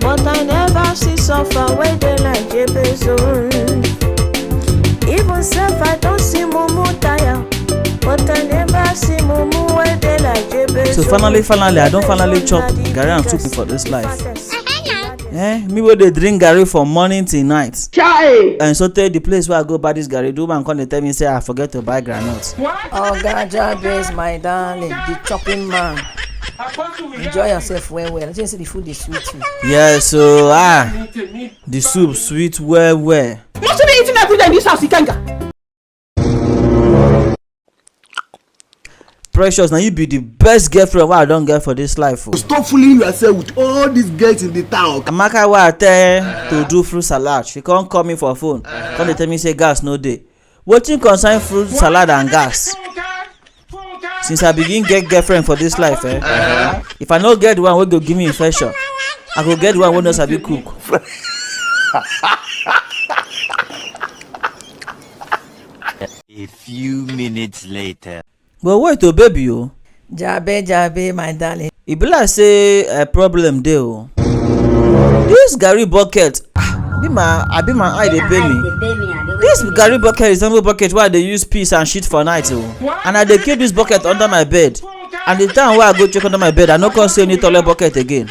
But I never see suffer wey dey like Jabez own. Even sef I don see mumu tire, but I never see mumu wey dey like Jabez so own. finally finally i don finally Jabez chop own na the garri and biggest, soup for this life fattest. eh me wey dey drink garri from morning till night Chai! and so tey the place wey i go buy this garri the woman come dey tell me say i forget to buy groundnut Oga Jabez my darling, the chopping man. enjoy yourself well well just say the food dey sweet you. yeah so ah the soup sweet well well. you no too dey eating every day in this house ikenga. precious na you be the best girlfriend wey i don get for this life o. Oh. stop fooling yourself with all these girls in the town. amaka wey i tell to do fruit salad she come call me for phone come dey tell me say gas no dey wetin concern fruit salad and gas since i begin get girlfriend for this life eh uh-huh. if i no get the one wey go give me infection i go get the one wey no sabi cook a few minutes later But wait o baby o. Jabe jabe my darling. E be like say a eh, problem dey o. This garri bucket ah, be my abi my eye dey pain me. This garri bucket is resemble bucket wey I dey use piss and shit for night o. And I dey keep this bucket under my bed. And the time wey I go check under my bed, I no come see any toilet bucket again.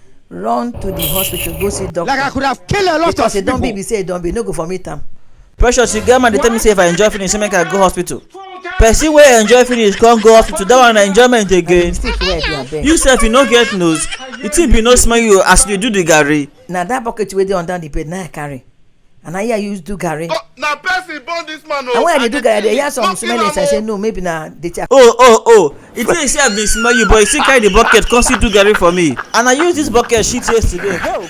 run to the hospital go see doctor. like i could have killed a lot because of people because e don be be say e don be no go for meet am. precious you get man dey tell me say if i enjoy finish say make i go hospital person wey enjoy finish come go hospital that one na enjoyment again you sef you no get nose the thing be no smell you as you dey do the garri. na that bucket wey dey under the bed na i carry. and na here i use do garri oh, na person born this man o oh. and when i dey do garri i dey hear some smell inside say no maybe na the chair. oh oh oh e think say i bin smell you but you still carry the bucket come still do garri for me and i use this bucket shit yesterday. Help.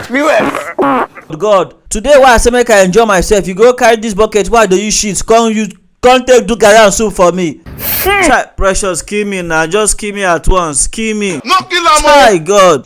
viewers. god today wey i say make i enjoy myself you go carry this bucket wey i dey use shit come use come take do garri and soup for me. chai precious kill me na just kill me at once kill me. no kill am o. chai god.